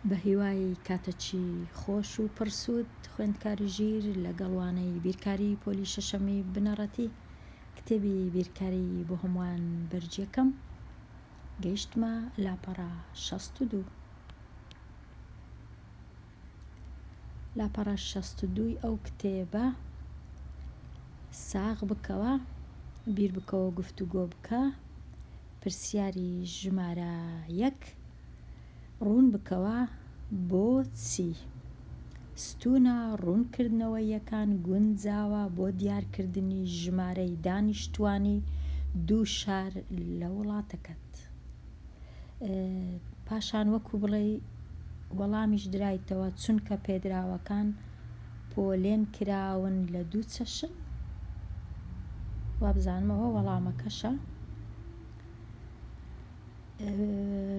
بەهیوای کاتەکی خۆش و پڕ سوود خوێندکاری ژیر لەگەڵ وانەی بیرکاری پۆلی شەشەمی بنەڕەتی کتێبی بیرکاری بۆ هەمووان بەرجەکەم گەیشتمە لاپەڕە شەست و دوو. لاپەڕە شەست و دووی ئەو کتێبە ساغ بکەوە، بیربکەوە گفتوگۆ بکە، پرسیاری ژمارە یەک، ڕوون بکەوە بۆچی ستوونە ڕوونکردنەوەییەکان گونجاوە بۆ دیارکردنی ژمارەی دانیشتووانی دوو شار لە وڵاتەکەت. پاشان وەکو بڵێ وەڵامیش درایتەوە چونکە پێدراوەکان پۆلێن کراون لە دوو چەشن وابزانمەوە وەڵامەکەشە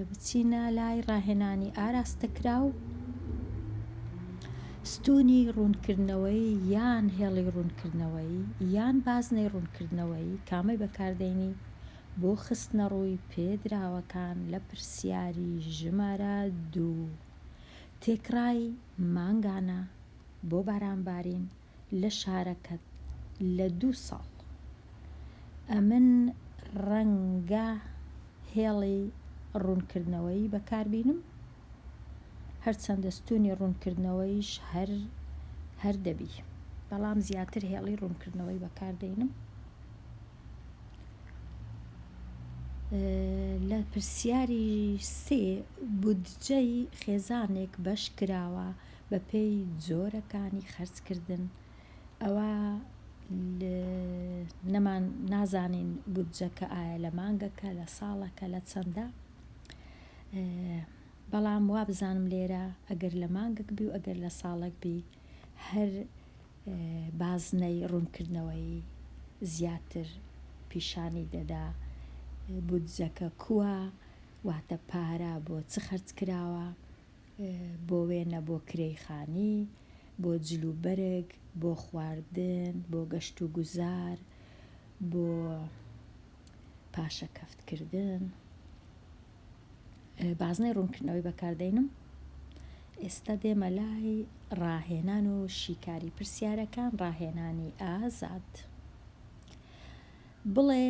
بچینە لای ڕاهێنانی ئاراستەکرا و ستونی ڕوونکردنەوەی یان هێڵی ڕوونکردنەوەی یان بازنەی ڕوونکردنەوەی کامەی بەکاردێنی بۆ خستنەڕووی پێدراوەکان لە پرسیاری ژمارە دوو، تێکڕای مانگانە بۆ بارانبارین لە شارەکەت لە دوو ساڵ. ئەمن ڕەنگە هێڵی ڕوونکردنەوەیی بەکاربینم، هەرچەندە ستوونی ڕوونکردنەوەیش هەر هەر دەبی، بەڵام زیاتر هێڵی ڕوونکردنەوەی بەکاردەینم. لە پرسیاری سێ، بودجەی خێزانێک بەش کراوە بە پێی جۆرەکانی خەرج کردن، ئەوا نەمان نازانین بودجەکە ئایا لە مانگەکە لە ساڵەکە لە چەندە، بەڵام وابزانم لێرە ئەگەر لە مانگەک بی و ئەگەر لە ساڵێک بی هەر بازنەی ڕوونکردنەوەی زیاتر پیشانی دەدا بودجەکە کووە، واتە پارە بۆ چ خەرج کراوە، بۆ وێنە بۆ کرێی خانی، بۆ جل و بەرگ، بۆ خواردن، بۆ گەشت و گوزار، بۆ پاشەکەفتکردن. بازنەی ڕوونکردنەوەی بەکاردێنم ئێستا دێمە لای ڕاهێنان و شیکاری پرسیارەکان ڕاهێنانی ئازاد بڵێ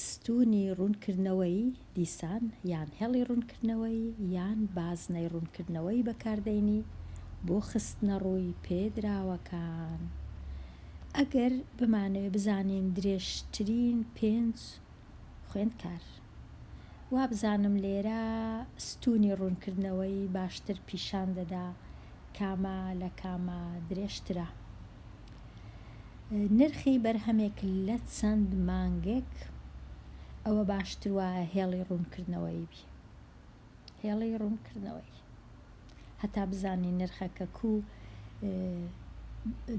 ستونی ڕوونکردنەوەی دیسان یان هێڵی ڕوونکردنەوەی یان بازنەی ڕوونکردنەوەی بەکاردێنی بۆ خستنە ڕووی پێدراوەکان ئەگەر بمانەوێ بزانین درێژترین پێنج خوێندکار. وابزانم لێرە ستوونی ڕوونکردنەوەی باشتر پیشان دەدا کامە لە کامە درێژترە. نرخی بەرهەمێک لە چەند مانگێک ئەوە باشتر وایە هێڵی ڕوونکردنەوەی بی. هێڵی ڕوونکردنەوەی. هەتا بزانی نرخەکە کو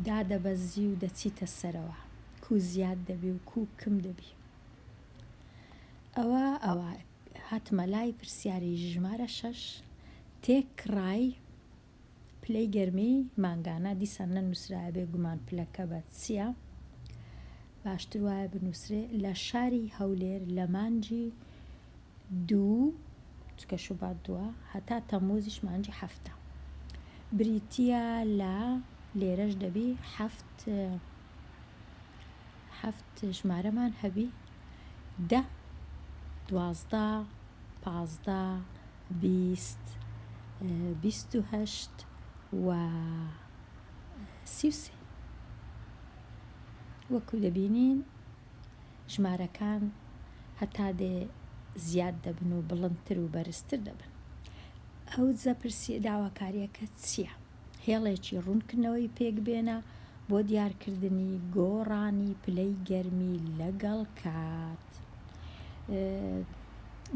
دادەبەزی و دەچیتە سەرەوە. کو زیاد دەبی و کو کم دەبی. ئەوا ئەوا هاتمە لای پرسیاری ژمارە شەش تێکڕای پلەی گەرمی مانگانە دیسان نەنووسرایە بێ گومان پلەکە بە چییە باشتر وایە بنووسرێ لە شاری هەولێر لە مانجی دوو، چونکە شوبات دووە، هەتا تەمووزیش مانگی حەفتە. بریتییە لە، لێرەش دەبی حەفت حەفت ژمارەمان هەبی، دە، دوازدە، پازدە، بیست، بیست و هەشت و سی و سێ. وەکو دەبینین ژمارەکان هەتا دێ زیاد دەبن و بڵندتر و بەرزتر دەبن. ئەو دزە پرسیە داواکاریەکە چیە؟ هێڵێکی ڕوونکردنەوەی پێکبێنە بۆ دیارکردنی گۆڕانی پلەی گەرمی لەگەڵ کات.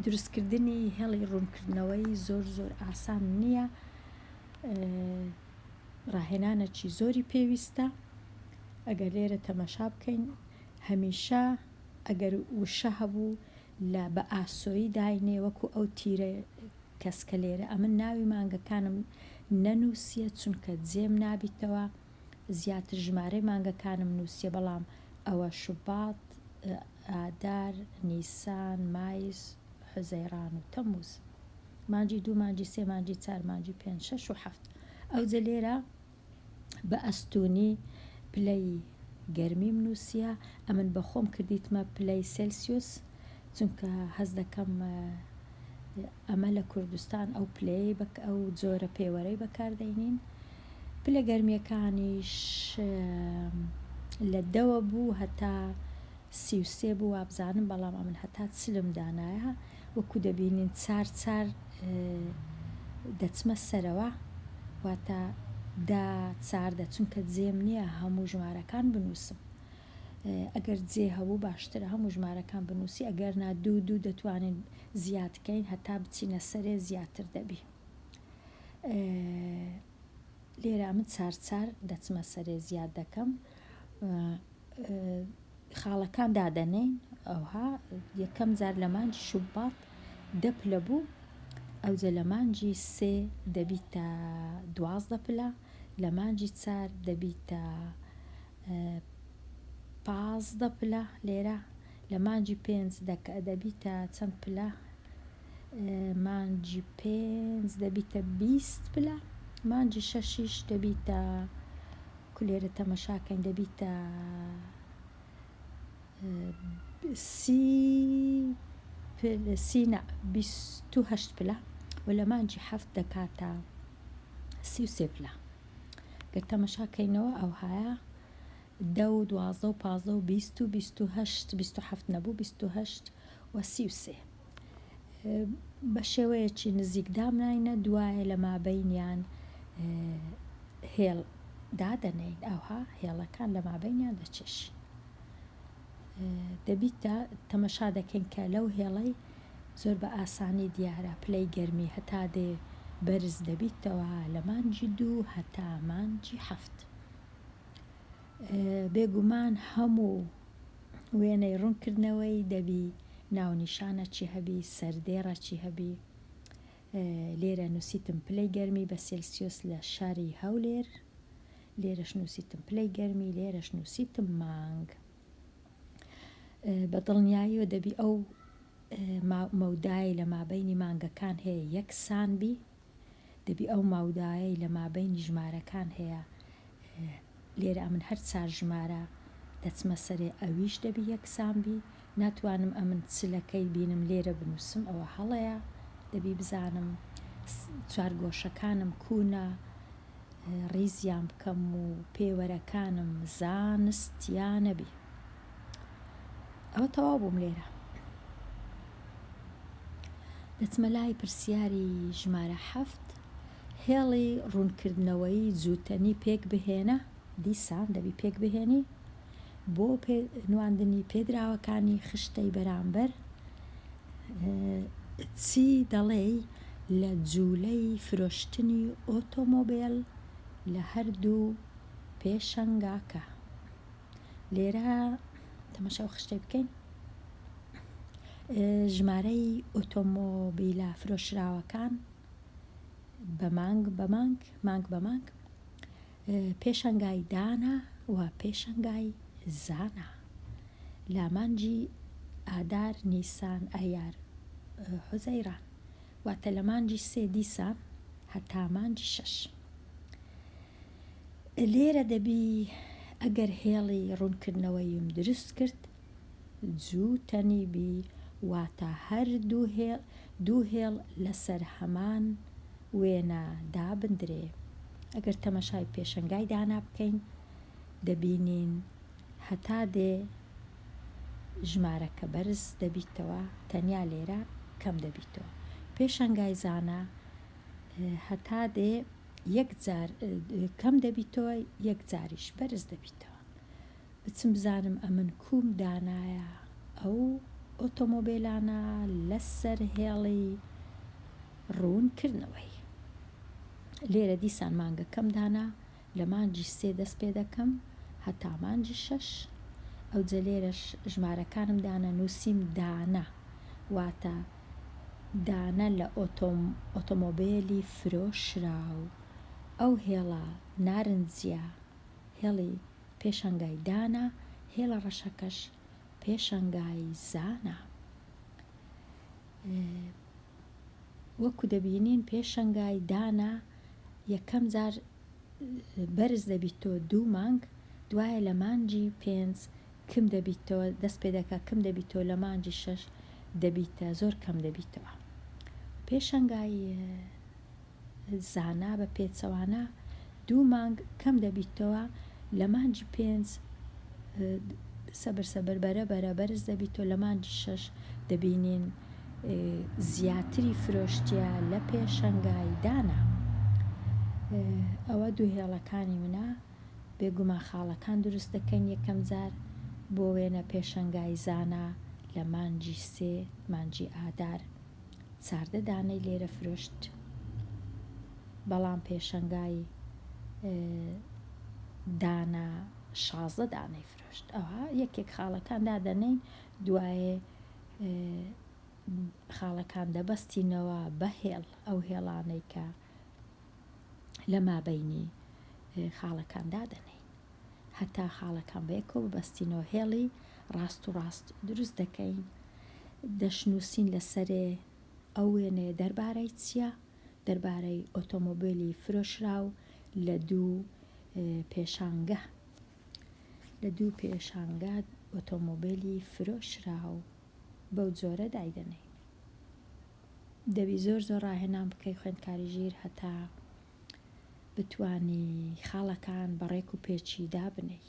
دروستکردنی هێڵی ڕوونکردنەوەی زۆر زۆر ئاسان نیە. ڕاهێنانەکی زۆری پێویستە ئەگەر لێرە تەمەشا بکەین هەمیشە ئەگەر وشە هەبوو لە بە ئاسۆیی داینێ وەکو ئەو تیرە کەسکە لێرە ئەمن ناوی مانگەکانم نەنووسە چونکە جێم نابیتەوە زیاتر ژمارەی مانگەکانم نووسە بەڵام ئەوە شوبات ئادار نیسان مایس حوزەیڕان و تەموز مانگی دوو مانگی سێ مانگی چار مانگی پێنج شەش و حەفت ئەوجە لێرە بە ئەستوونی پلەی گەرمیم نووسیە ئەمن بە خۆم کردیتمە پلەی سلسیوس چونکە هەز دەکەم ئەمە لە کوردستان ئەو پلەی بەک ئەو جۆرە پێوەرەی بەکاردەینین پلە گەرمیەکانیش لە دەوە بوو هەتا سیوسێ بوو وابزانم بەڵام ئەمن هەتا چلم دانایە وەکو دەبینین چار چار دەچمە سەرەوە واتە دە چاردە چونکە جێم نییە هەموو ژمارەکان بنووسم ئەگەر جێ هەبوو باشترە هەموو ژمارەکان بنووسی ئەگەر نا دوو دوو دەتوانین زیادکەین هەتا بچینە سەرێ زیاتر دەبی لێرە من چار چار دەچمە سەرێ زیاد دەکەم خاڵەکان دادەنێین ئەوها یەکەم جار لە مانجی شوبات دە پلە بوو ئەوجە لە مانجی سێ دەبیتە دوازدە پلە لە مانجی چار دەبیتە پازدە پلە لێرە لە مانجی پێنج دەبیتە چەند پلە مانجی پێنج دەبیتە بیست پلە مانجی شەشیش دەبیتە کولێرە تەمەشا کەین دەبیتە سی پل سی نا بیست و هەشت پلە و لە مانجی حەفت دەکاتە سی و سێ پلە گەر تەمەشا کەینەوە ئەوهایە دە و دوازدە و پازدە و بیست و بیست و هەشت بیست و حەفت نەبوو بیست و هەشت و سی و سێ بە شێوەیەکی نزیک دامناینە دوایە لە مابەینیان هێڵ دادەنێین ئەوها هێڵەکان لە مابەینیان دەچێشین دەبیتە تەمەشا دەکەین کە لەو هێڵەی زۆر بە ئاسانی دیارە پلەی گەرمی هەتا دێ بەرز دەبیتەوە لە مانجی دوو هەتا مانجی هەفت بێگومان هەموو وێنەی ڕوون کردنەوەی دەبی ناونیشانە چی هەبی سەردێڕە چی هەبی لێرە نووسیتم پلەی گەرمی بە سلسیوس لە شاری هەولێر لێرەش نووسیتم پلەی گەرمی لێرەش نووسیتم مانگ بە دڵنیاییەوە دەبی ئەو مەودای لە مابینی مانگەکان هەیە یەکسان بی دەبی ئەو ماودایەی لە مابەینی ژمارەکان هەیە لێرە ئەمن هەر چار ژمارە دەچمە سەرێ ئەویش دەبی یەکسان بی ناتوانم ئەمن چ لە کەی بینم لێرە بنووسم ئەوە هەڵەیە دەبی بزانم چوار گۆشەکانم کوونە ڕیزیان بکەم و پێوەرەکانم زانستیانە بی ئەوە تەواو بووم لێرە. دەچمە لای پرسیاری ژمارە حەفت هێڵی ڕوونکردنەوەی جووتەنی پێک بهێنە دیسان دەبی پێک بهێنی بۆ نواندنی پێدراوەکانی خشتەی بەرامبەر چی دەڵێی لە جوولەی فرۆشتنی ئۆتۆمۆبێل لە هەردوو پێشەنگاکە لێرە تەمەشاو خشتەی بکەین ژمارەی ئۆتۆمۆبیلە فرۆشراوەکان بە مانگ بە مانگ مانگ بە مانگ پێشەنگای دانا و پێشەنگای زانا لامانجی ئادار نیسان ئەیار حوزەیران واتە لە مانجی سێ دیسان هەتا مانجی شەش لێرە دەبی ئەگەر هێڵی ڕوونکردنەوەیم دروست کرد جوو تەنی بی واتە هەر دوو هێڵ لەسەر هەمان وێنە دابندرێ ئەگەر تەمەشای پێشەنگای دانا بکەین دەبینین هەتا دێ ژمارەکە بەرز دەبیتەوە تەنیا لێرە کەم دەبیتەوە پێشەنگای زانا هەتا دێ یەک جار کەم دەبیتەوە یەک جاریش بەرز دەبیتەوە بچم بزانم ئەمن کوم دانایە ئەو ئۆتۆمۆبێلانە لەسەر هێڵی ڕوون کردنەوەی لێرە دیسان مانگەکەم دانا لە مانجی سێ دەست پێ دەکەم هەتا مانجی شەش ئەو جەلێرەش ژمارەکانم دانە نووسیم دانە واتە دانە لە ئۆتۆم ئۆتۆمۆبیلی فرۆشراو ئەو هێڵە نارنجە هێڵی پێشەنگای دانە هێڵە ڕەشەکەش پێشەنگای زانە وەکو دەبینین پێشەنگای دانە یەکەم جار بەرز دەبیتەوە دوو مانگ دوایە لە مانجی پێنج کم دەبیتەوە دەست پێ دەکە کم دەبیتەوە لە مانجی شەش دەبیتە زۆر کەم دەبیتەوە پێشەنگای زانا بە پێچەوانە دوو مانگ کەم دەبیتەوە لە مانگی پێنج سەبر سەبر بەرە بەرە بەرز دەبیتەوە لە مانگی شەش دەبینین زیاتری فرۆشتیە لە پێشەنگای دانا ئەوە دوو هێڵەکانی منە بێگومان خاڵەکان دروست دەکەن یەکەم جار بۆ وێنە پێشەنگای زانا لە مانگی سێ مانگی ئادار ساردە دانەی لێرە فرۆشت بەڵام پێشەنگای دانە شازدە دانەی فرۆشت ئەوها یەکێک خاڵەکان دادەنین دوایێ خاڵەکان دەبەستینەوە بە هێڵ ئەو هێڵانەی کە لە مابەینی خاڵەکان دادەنێین هەتا خاڵەکان بە یەکەوە ببەستینەوە هێڵی ڕاست و ڕاست دروست دەکەین دەشنووسین لەسەرێ ئەو وێنەیە دەربارەی چییە دەربارەی ئۆتۆمۆبیلی فرۆشراو لە دوو پێشانگە لە دوو پێشانگە ئۆتۆمۆبیلی فرۆشراو بەو جۆرە دایدەنێین دەبی زۆر زۆر ڕاهێنان بکەی خوێندکاری ژیر هەتا بتوانی خاڵەکان بە ڕێک و پێچی دابنێی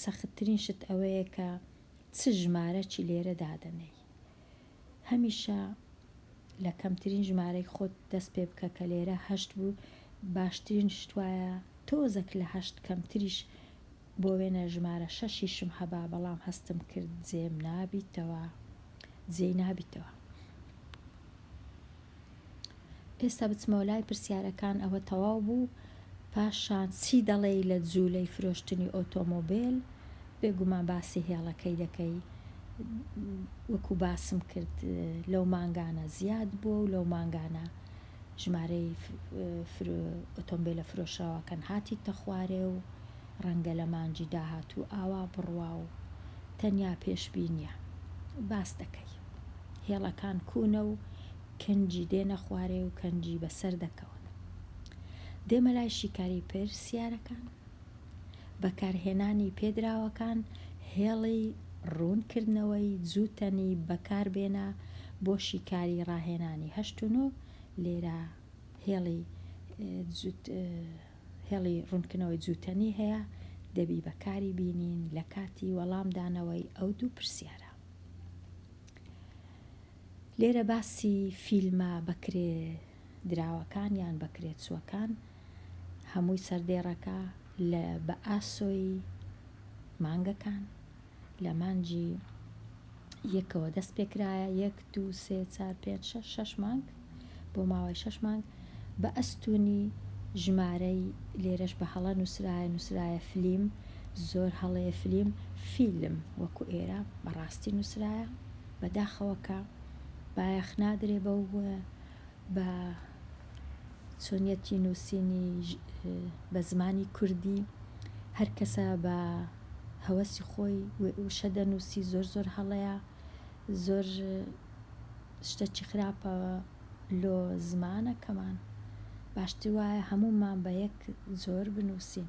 سەختترین شت ئەوەیە کە چ ژمارەکی لێرە دادەنێی هەمیشە لە کەمترین ژمارەی خۆت دەست پێ بکە کە لێرە هەشت بوو باشترین شتواە تۆزەک لە هەشت کەمتریش بۆ وێنە ژمارە شەشیشم هەبا بەڵام هەستم کرد جێم نابیتەوە جێی نابیتەوە. ئێستا بچمەوە لای پرسیارەکان ئەوە تەواو بوو پاشان چی دەڵێی لە جوولەی فرۆشتنی ئۆتۆمۆبێل بێگومان باسی هێڵەکەی دەکەی وەکو باسم کرد لەو مانگانە زیاد بووە و لەو مانگانە ژمارەی ئۆتۆمبێلە فرۆشراوەکان هاتیتە خوارێ و ڕەنگە لە مانگی داهاتوو ئاوا بڕوا و تەنیا پێشبینییە. باس دەکەی. هێڵەکان کوونە و کنجی دێنە خوارێ و کەنجی بەسەر دەکەون. دێمە لای شیکاری پرسیارەکان. بەکارهێنانی پێدراوەکان هێڵی ڕوونکردنەوەی جووتەنی بەکاربێنە بۆ شیکاری ڕاهێنانی هەشت و نۆ لێرە هێڵی هێڵی ڕوونکردنەوەی جووتەنی هەیە دەبی بەکاری بینین لە کاتی وەڵامدانەوەی ئەو دوو پرسیارە لێرە باسی فیلمە بەکرێ دراوەکان یان بەکرێچووەکان هەمووی سەر دێڕەکە لە بە ئاسۆی مانگەکان لە مانگی یەکەوە دەست پێکرایە یەک دوو سێ چار پێنج شەش شەش مانگ بۆ ماوەی شەش مانگ بە ئەستونی ژمارەی لێرەش بە هەڵە نووسرایە نووسرایە فلیم زۆر هەڵەیە فلیم فیلم وەکو ئێرە بەڕاستی نووسرایە بەداخەوە کە بایەخ نادرێ بەو بە چۆنیەتی نووسینی بە زمانی کوردی هەر کەسە بە هەوەسی خۆی وشە دەنووسی زۆر زۆر هەڵەیە زۆر شتەکی خراپە لۆ زمانەکەمان باشتر وایە هەموومان بە یەک زۆر بنووسین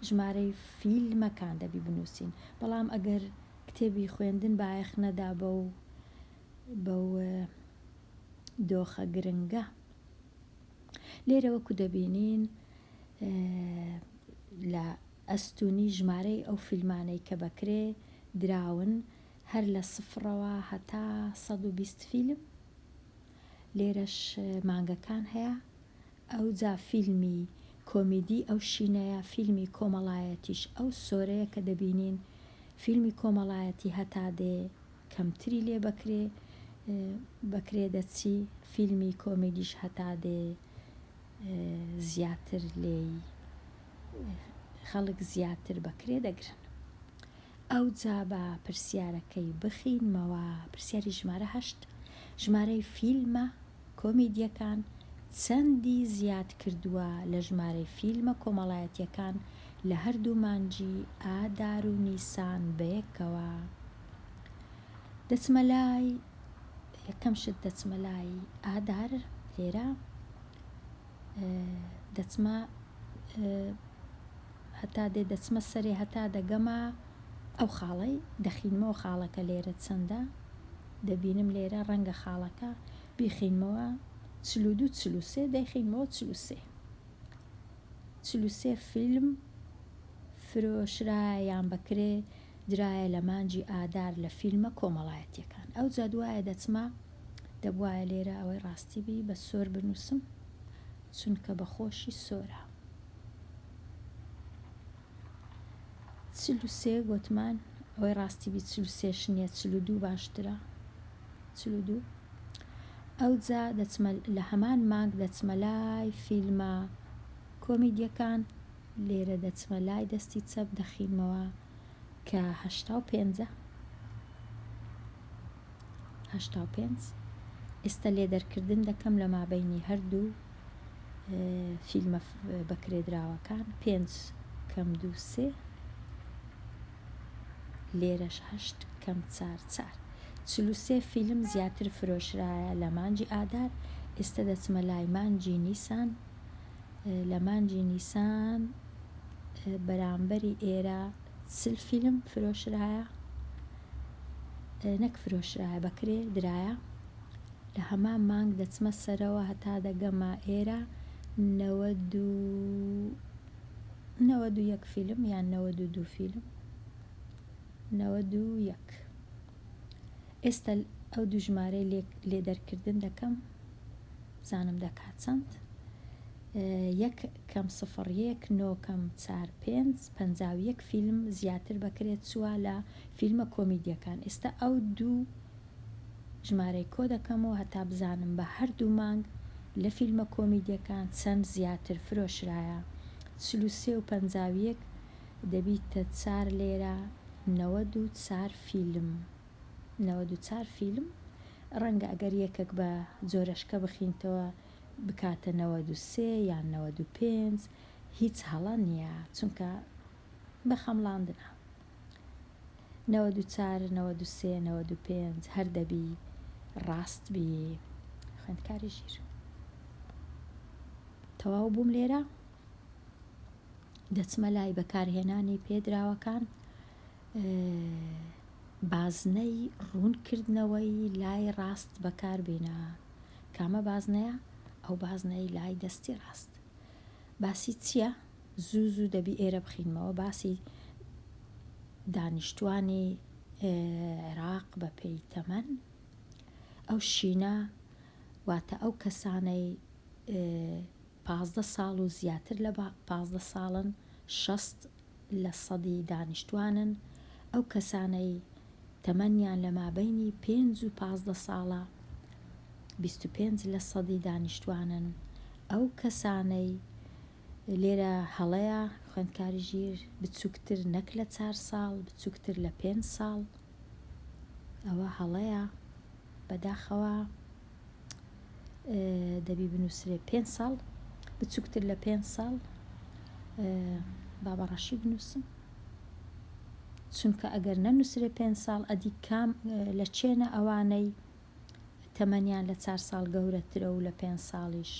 ژمارەی فیلمەکان دەبی بنووسین بەڵام ئەگەر کتێبی خوێندن بایەخ نەدا بە و بە و دۆخە گرنگە لێرە وەکو دەبینین لە ئەستونی ژمارەی ئەو فیلمانەی کە بەکرێ دراون هەر لە سفرەوە هەتا 120 فیلم لێرەش مانگەکان هەیە ئەو جا فیلمی کۆمیدی ئەو شینەیە فیلمی کۆمەڵایەتیش ئەو سۆرەیە کە دەبینین فیلمی کۆمەڵایەتی هەتا دێ کەمتری لێ بەکرێ بەکرێ دەچی فیلمی کۆمیدیش هەتا دێ زیاتر لێی خەڵک زیاتر بەکرێ دەگرن ئەو جا بە پرسیارەکەی بخینمەوە پرسیاری ژمارە هەشت ژمارەی فیلمە کۆمیدییەکان چەندی زیاد کردووە لە ژمارەی فیلمە کۆمەڵایەتییەکان لە هەردوو مانگی ئادار و نیسان بەیەکەوە دەچمە لای یەکەم شت دەچمە لای ئادار لێرە دەچمە هەتا دێ دەچمە سەرێ هەتا دەگەمە ئەو خاڵەی دەخینمەوە خاڵەکە لێرە چەندە دەبینم لێرە ڕەنگە خاڵەکە بیخینمەوە چل و دوو چل و سێ دەیخینمەوە چل و سێ چل و سێ فیلم فرۆشرایە یان بەکرێ درایە لە مانجی ئادار لە فیلمە کۆمەڵایەتیەکان ئەو جادوایە دەچمە دەبواە لێرە ئەوەی ڕاستی بی بە سۆر بنووسم چونکە بە خۆشی سۆرە. چل و سێ گۆتمان ئەوەی ڕاستی بی چل و سێش نیە چل و دوو باشترە چل و دوو ئەوجا دەچمە لە هەمان مانگ دەچمە لای فیلمە کۆمیدیەکان لێرە دەچمە لای دەستی چەپ دەخینمەوە کە هەشتا و پێنجە هەشتا و پێنج ئێستا لێ دەرکردن دەکەم لە مابینی هەردوو فیلمە بەکرێدراوەکان پێنج کەم دوو سێ لێرەش هەشت کەم چار چار چلوسێ فیلم زیاتر فرۆشرایە لە مانجی ئادار ئێستا دەچمە لای مانجی نیسان لە مانگی نیسان بەرامبەری ئێرە چل فیلم فرۆشرایە نەک فرۆشرایە بەکرێ درایە لە هەمان مانگ دەچمە سەرەوە هەتا دەگەمە ئێرە نەوەد و نەوەد و یەک فیلم یان نەوەد و دوو فیلم نەوەد و یەک ئێستا ئەو دوژمارەی لێ دەرکردن دەکەم بزانم دەکات چەند؟ یەک کەم سفڕ یەک نۆ کەم چار پێنج پەنجا و یەک فیلم زیاتر بەکرێت چووە لە فیلمە کۆمیدیەکان ئێستا ئەو دوو ژمارەی کۆ دەکەمەوە هەتا بزانم بە هەردوو مانگ لە فیلمە کۆمیدیەکان چەند زیاتر فرۆشرایە چل و سێ و پەنجا و یەک دەبیتە چار لێرە نەوەد و چار فیلم. نەوەد و چار فیلم، ڕەنگە ئەگەر یەکەک بە جۆرەشکە بخینتەوە بکاتە نەوەد و سێ یان نەوەد و پێنج، هیچ هەڵە نیە چونکە بە خەمڵاندنە. نەوەد و چار، نەوەد و سێ، نەوەد و پێنج هەر دەبی ڕاست بی خوێندکاری ژیر. تەواو بووم لێرە دەچمە لای بەکارهێنانی پێدراوەکان بازنەی ڕوونکردنەوەی لای ڕاست بەکاربینە، کامە بازنەیە؟ ئەو بازنەی لای دەستی ڕاست. باسی چییە؟ زوو زوو دەبی ئێرە بخینمەوە باسی دانیشتوانی عێراق بە پێی تەمەن ئەو شینە واتە ئەو کەسانەی پازدە ساڵ و زیاتر لە پازدە ساڵن، شەست لە سەدی دانیشتووانن، ئەو کەسانەی تەمەنیان لە مابەینی پێنج و پازدە ساڵە، بیست و پێنج لە سەدی دانیشتووانن، ئەو کەسانەی، لێرە هەڵەیە، خوێندکاری ژیر، بچووکتر نەک لە چار ساڵ، بچووکتر لە پێنج ساڵ، ئەوە هەڵەیە، بەداخەوە. دەبی بنووسرێ پێ ساڵ بچووکتر لە پێ ساڵ بابە ڕەشی بنووسم چونکە ئەگەر نەنووسرێ پێ ساڵ ئەدی کام لە چێنە ئەوانەی تەمەنیان لە چار ساڵ گەورەترە و لە پێ ساڵیش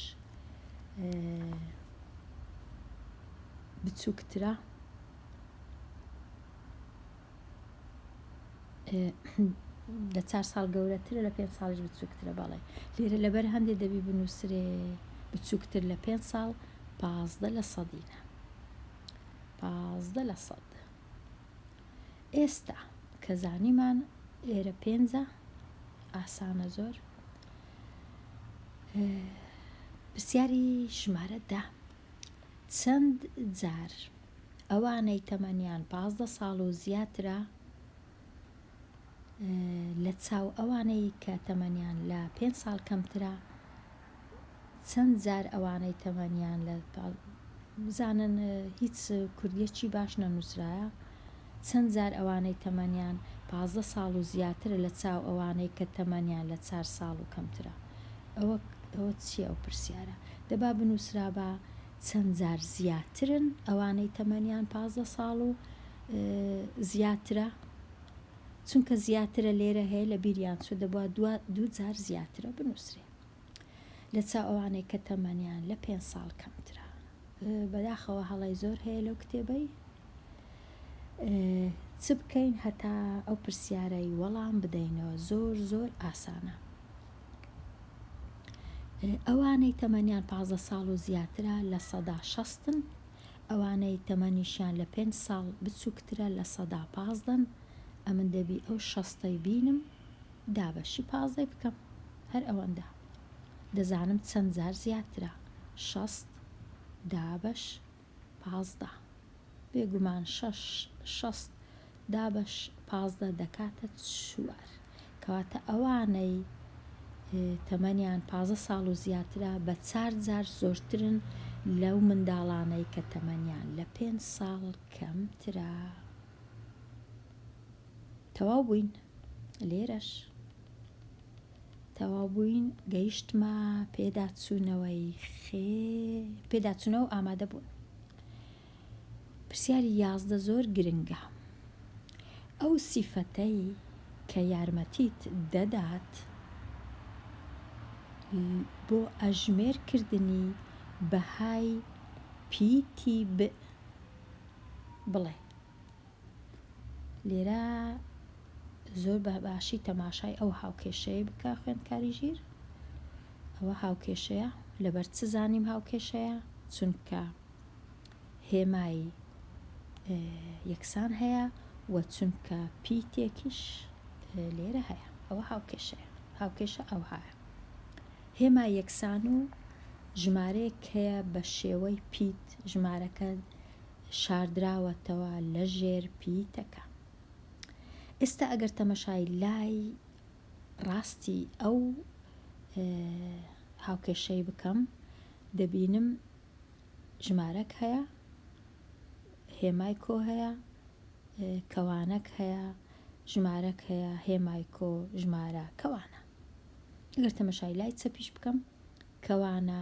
بچووکترە لە چار ساڵ گەورەترە لە پێنج ساڵیش بچووکترە بەڵێ لێرە لەبەر هەندێک دەبی بنووسرێ بچووکتر لە پێنج ساڵ پازدە لە سەدینە پازدە لە سەد ئێستا کە زانیمان ئێرە پێنجە ئاسانە زۆر پرسیاری ژمارەدا چەند جار ئەوانەی تەمەنیان پازدە ساڵ و زیاترە لە چاو ئەوانەی کە تەمەنیان لە پێ ساڵ کەمترە چەند جار ئەوانەی تەمەنیان لە بزانن هیچ کوردیەکی باش نەنووسرایە چەند جار ئەوانەی تەمەنیان پازدە ساڵ و زیاترە لە چاو ئەوانەی کە تەمەنیان لە چار ساڵ و کەمترە ئەوە ئەوە چییە ئەو پرسیارە دەبا بنووسرا بە چەند جار زیاترن ئەوانەی تەمەنیان پازدە ساڵ و زیاترە چونکە زیاترە لێرە هەیە لە بیریان چوو دەبووە دو دوو جار زیاترە بنووسرێ لە چاو ئەوانەی کە تەمەنیان لە پێ ساڵ کەمترە بەداخەوە هەڵی زۆر هەیە لەو کتێبەی چ بکەین هەتا ئەو پرسیارەی وەڵام بدەینەوە زۆر زۆر ئاسانە ئەوانەی تەمەنیان پازدە ساڵ و زیاترە لە سەدا شەستن، ئەوانەی تەمەنیشیان لە پێنج ساڵ بچووکترە لە سەدا پازدەن، ئەمن دەبی ئەو شەستەی بینم دابەشی پازدەی بکەم هەر ئەوەندە، دەزانم چەند جار زیاترە شەست دابەش پازدە. بێگومان شەش شەست دابەش پازدە دەکاتە چوار. کەواتە ئەوانەی تەمەنیان پازدە ساڵ و زیاترە بە چار جار زۆرترن لەو منداڵانەی کە تەمەنیان لە پێنج ساڵ کەمترە. تەواو بووین لێرەش. تەواو بووین گەیشتمە پێداچوونەوەی خێر پێداچوونەوە و ئامادە بوون پرسیاری یازدە زۆر گرنگە ئەو سیفەتەی کە یارمەتیت دەدات بۆ ئەژمێر کردنی بەهای پیتی ب بڵێ. لێرە زۆر بە باشی تەماشای ئەو هاوکێشەیە بکە خوێندکاری ژیر ئەوە هاوکێشەیە لەبەر چ زانیم هاوکێشەیە چونکە هێمایی یەکسان هەیە و چونکە پیتێکیش لێرە هەیە ئەوە هاوکێشەیە هاوکێشە ئەو هاە هێما یەکسان و ژمارەیەک هەیە بە شێوەی پیت ژمارەکە شاردراوەتەوە لە ژێر پیتەکە ئێستا ئەگەر تەمەشای لای ڕاستی ئەو هاوکێشەی بکەم دەبینم ژمارەک هەیە هێمای کۆ هەیە کەوانەک هەیە ژمارەک هەیە هێمای کۆ ژمارە کەوانە ئەگەر تەمەشای لای چەپیش بکەم کەوانە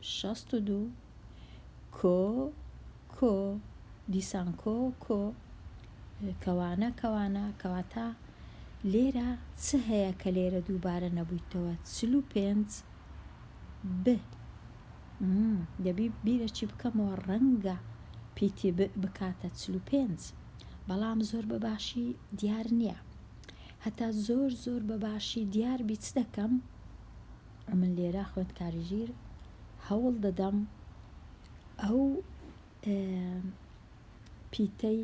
شەست و دوو، کۆ، کۆ، دیسان کۆ، کۆ، کەوانە، کەوانە، کەواتە لێرە چ هەیە کە لێرە دووبارە نەبوویتەوە؟ چل و پێنج، ب، م، دەبی بیرەکی بکەمەوە ڕەنگە پیتی ب بکاتە چل و پێنج بەڵام زۆر بە باشی دیار نییە. هەتا زۆر زۆر بە باشی دیار بی چ دەکەم؟ ئەمن لێرە خوێندکاری ژیر هەوڵ دەدەم ئەو پیتەی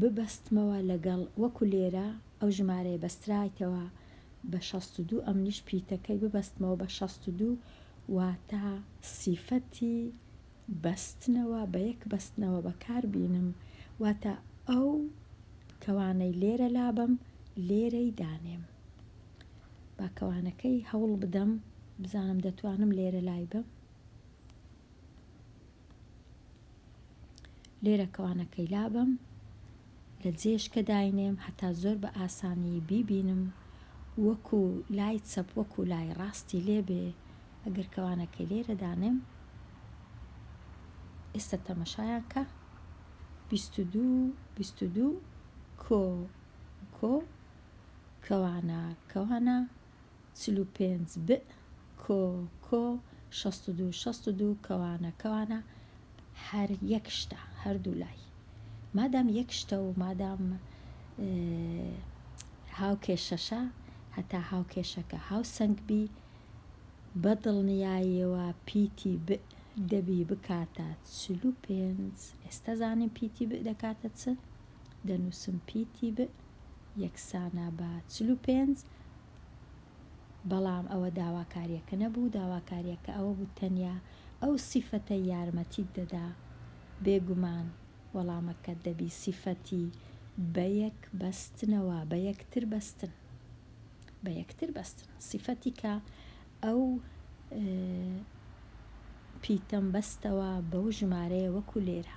ببەستمەوە لەگەڵ وەکو لێرە ئەو ژمارەیە بەسترایتەوە بە 62 ئەمنیش پیتەکەی ببەستمەوە بە 62 واتە سیفەتی بەستنەوە بە یەک بەستنەوە بەکار بینم واتە ئەو کەوانەی لێرە لابم لێرەی دانێم با کەوانەکەی هەوڵ بدەم بزانم دەتوانم لێرە لای بم لێرە کەوانەکەی لابم لە جێشکە داینێم هەتا زۆر بە ئاسانی بیبینم وەکو لای چەپ وەکو لای ڕاستی لێبێ ئەگەر کەوانەکەی لێرە دانێم ئێستا تەمەشایان کە بیست و دوو بیست و دوو کۆ کۆ کوانا کوانا چل و پێنج بئ کۆ کۆ شەست و دوو شەست و دوو کوانا کوانا هەر یەک شتە هەردوو لای مادام یەک شتە و مادام هاوکێشەشە هەتا هاوکێشەکە هاوسەنگ بی بە دڵنیایەوە پیتی ب دەبی بکاتە چل و پێنج ئێستا زانین پیتی ب دەکاتە چ دەنووسم پیتی ب یەکسانە بە چل و پێنج، بەڵام ئەوە داواکارییەکە نەبوو، داواکارییەکە ئەوە بوو تەنیا ئەو سیفەتەی یارمەتیت دەدا، بێگومان وەڵامەکەت دەبی سیفەتی بەیەک بەستنەوە، بەیەکتر بەستن، بەیەکتر بەستن، سیفەتی کە ئەو پیتەم بەستەوە بەو ژمارەیە وەکو لێرە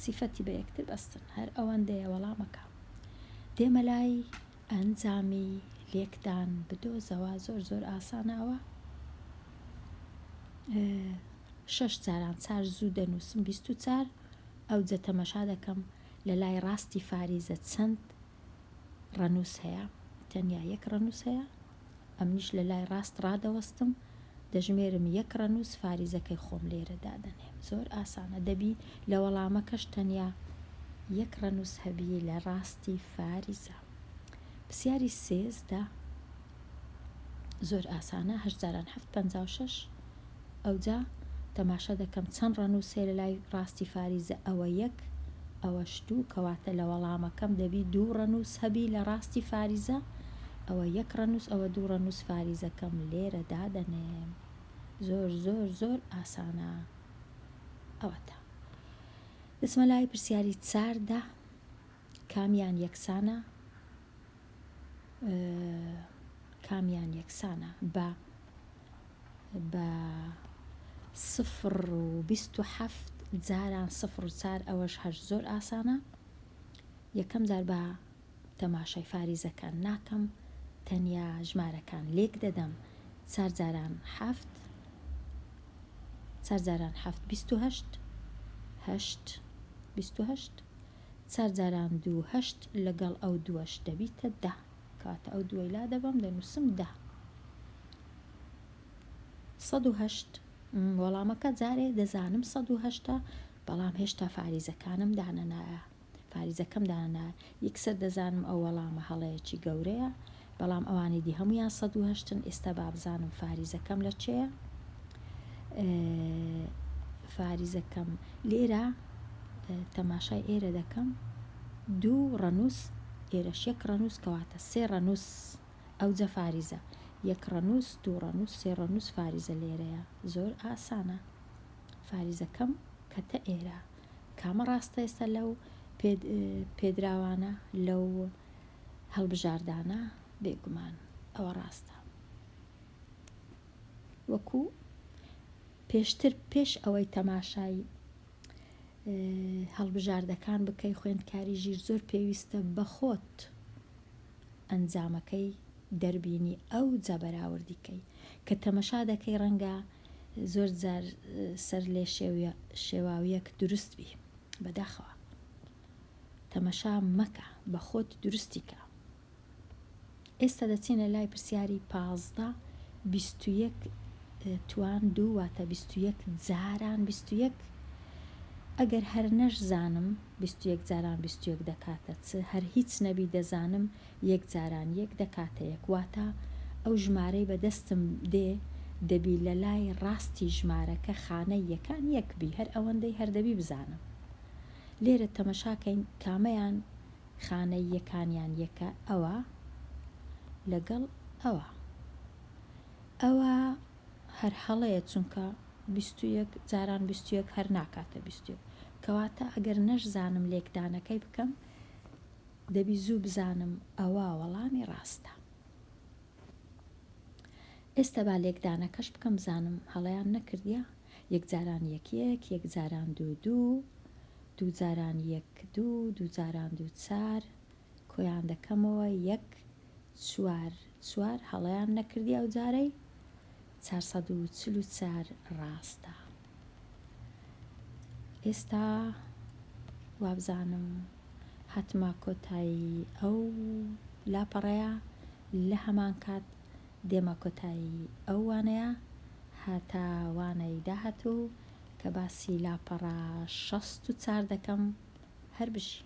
سیفەتی بە یەکتر بەستن هەر ئەوەندەیە وەڵامەکە دێمە لای ئەنجامی لێکدان بدۆزەوە زۆر زۆر ئاسانەوە شەش جاران چار زوو دەنووسم بیست و چار ئەو جە تەمەشا دەکەم لە لای ڕاستی فاریزە چەند ڕەنووس هەیە تەنیا یەک ڕەنووس هەیە ئەمنیش لە لای ڕاست ڕادەوەستم، دەژمێرم یەک ڕەنووس فاریزەکەی خۆم لێرە دادەنێم. زۆر ئاسانە، دەبی لە وەڵامەکەش تەنیا یەک ڕەنووس هەبی لە ڕاستی فاریزە. پرسیاری سێزدە زۆر ئاسانە، هەشت جاران حەفت پەنجا و شەش. ئەوجا تەماشا دەکەم چەند ڕەنووس هەیە لەلای ڕاستی فاریزە ئەوە یەک ئەوەش دوو کەواتە لە وەڵامەکەم دەبی دوو ڕەنووس هەبی لە ڕاستی فاریزە ئەوە یەک ڕەنووس ئەوە دوو ڕەنووس فاریزەکەم لێرە دادەنێم زۆر زۆر زۆر ئاسانە ئەوەتە دەچمە لای پرسیاری چار دە کامیان یەکسانە کامیان یەکسانە بە بە سفر و بیست و حەفت جاران سفر و چار ئەوەش هەر زۆر ئاسانە یەکەم جار بە تەماشای فاریزەکان ناکەم تەنیا ژمارەکان لێک دەدەم چار جاران حەفت چار جاران حەفت بیست و هەشت هەشت بیست و هەشت چار جاران دوو هەشت لەگەڵ ئەو دووەش دەبیتە دە کەواتە ئەو دووەی لا دەبەم دەنووسم دە سەد و هەشت وەڵامەکە جارێ دەزانم سەد و هەشتا بەڵام هێشتا فاریزەکانم دانەنایە فاریزەکەم دانایە یەکسەر دەزانم ئەو وەڵامە هەڵەیەکی گەورەیە بەڵام ئەوانی دی هەموویان سەد و هەشتن ئیستا بابزانم فاریزەکەم لە چێە فاریزەکەم لێرە تەماشای ئێرە دەکەم دوو ڕەنووس ئێرە شێک ڕەنووس کەواتە سێ ڕەنووس ئەو جە فاریزە یەک ڕەنووس دوو ڕەنووس سێ ڕەنووس فاریزە لێرەیە زۆر ئاسانە فاریزەکەم کەتە ئێرە کامە ڕاستە ئێستا لەو پێدراوانە لەو هەڵبژاردانە بێگومان ئەوە ڕاستە وەکو پێشتر پێش ئەوەی تەماشای هەڵبژاردەکان بکەی خوێندکاری ژیر زۆر پێویستە بەخۆت ئەنجامەکەی دەربینی ئەو جا بەراوردیکەی کە تەمەشا دەکەی ڕەنگە زۆر جار سەر لێ شێواویەک دروست بی بەداخەوە تەمەشا مەکە بەخۆت دروستی کە. ئێستا دەچینە لای پرسیاری پازدە بیست و یەک توان دوو واتە بیست و یەک جاران بیست و یەک ئەگەر هەر نەشزانم بیست و یەک جاران بیست و یەک دەکاتە چ هەر هیچ نەبی دەزانم یەک جاران یەک دەکاتە یەک واتە ئەو ژمارەی بە دەستم دێ دەبی لە لای ڕاستی ژمارەکە خانەی یەکان یەک بی هەر ئەوەندەی هەر دەبی بزانم لێرە تەمەشا کەین کامەیان خانەی یەکانیان یەکە ئەوە لەگەڵ ئەوە ئەوە هەر هەڵەیە چونکە بیستویەک جاران بیستویەک هەر ناکاتە بیستویەک کەواتە ئەگەر نەشزانم لێکدانەکەی بکەم دەبی زوو بزانم ئەوە وەڵامی ڕاستە ئێستا با لێکدانەکەش بکەم بزانم هەڵەیان نەکردیە یەکجاران یەک یەک یەکجاران دوو دوو دووجاران یەک دوو دووجاران دوو چار کۆیان دەکەمەوە یەک چوار چوار هەڵەیان نەکردی ئەو جارەی چوار سەد و چل و چوار ڕاستە ئێستا وابزانم هاتمە کۆتایی ئەو لاپەڕەیە لە هەمان کات دێمە کۆتایی ئەو وانەیە هەتا وانەی داهاتوو کە باسی لاپەڕە شەست و چار دەکەم هەر بژی